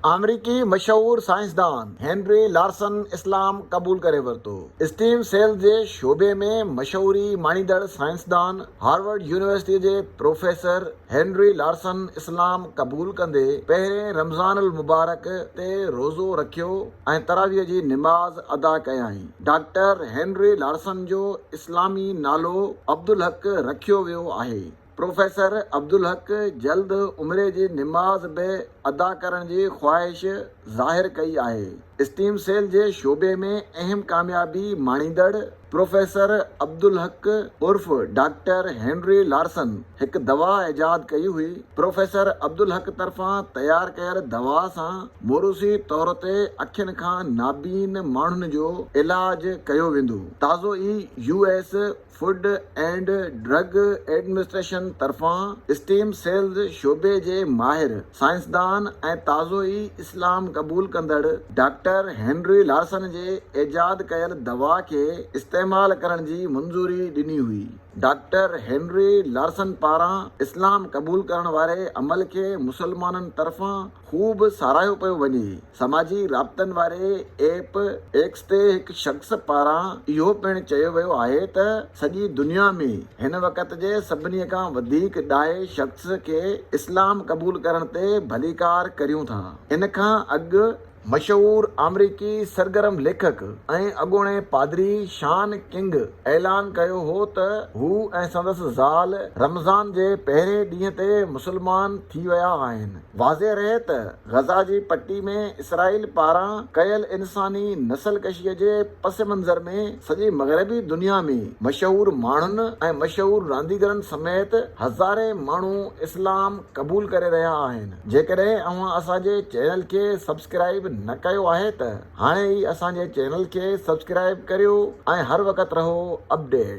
آمريڪي مشهور سائنسدان هينري لارسن اسلام قبول ڪري ورتو. اسٽيم سيلز جي شعبي ۾ مشهوري ماڻيندڙ سائنسدان هارورڊ يونيورسٽيء جي پروفيسر هينري لارسن اسلام قبول ڪندي پهرين رمضان المبارڪ تي روزو رکيو ۽ تراويح جي نماز ادا ڪيائين. ڊاڪٽر هينري لارسن جو اسلامي نالو عبدالحق رکيو ويو آهي. پروفيسر عبدالحق جلد عمري جي نماز به ادا ڪرڻ جي خواهش ظاهر ڪئي آهي. اسٽيم سيل جي شعبي ۾ اهم ڪاميابي ماڻيندڙ پروفيسر عبدالحق عرف ڊاڪٽر هينري لارسن هڪ دوا ايجاد ڪئي هئي. پروفيسر عبدالحق طرفان تيار ڪيل دوا سان موروثي طور تي اکين کان نابين ماڻهن جو علاج ڪيو ويندو. تازو ئي U S food and drug administration طرفان اسٽيم سيلز شعبي جي ماهر، سائنسدان ۽ تازو ئي اسلام قبول ڪندڙ ڊاڪٽر هينري لارسن جي ايجاد ڪيل دوا کي استعمال ڪرڻ جي منظوري ڏني هئي. ڊاڪٽر هينري لارسن پاران اسلام قبول ڪرڻ واري عمل کي مسلمانن طرفان هو به ساراهيو پيو وڃي. سماجي رابطن واري ايپ ايڪس تي هڪ شخص پاران اهو پڻ چيو ويو آهي ته سڄي دنيا ۾ هن وقت جي سڀني کان وڌيڪ ڏاهي شخص کي اسلام قبول ڪرڻ تي ڀليڪار ڪريون ٿا. ان کان اڳ. مشهور آمريڪي سرگرم ليکڪ ۽ اڳوڻي پادري شان ڪنگ اعلان ڪيو هو ته هو ۽ سندس زال رمضان جي پهرين ڏينهن تي مسلمان ٿي ويا آهن. واضح رهي ته غزه جي پٽي ۾ اسرائيل پاران ڪيل انساني نسل ڪشي جي پس منظر ۾ سڄي مغربي دنيا ۾ مشهور ماڻهن ۽ مشهور رانديگرن سميت هزارين ماڻهو اسلام قبول ڪري رهيا آهن جيڪڏهن اوهان اسان جي چينل کي سبسڪرائيب نه ڪيو آهي ته هاڻي ئي اسان جي چينل کي سبسڪرائيب ڪريو ۽ هر وقت رهو اپڊيٽ.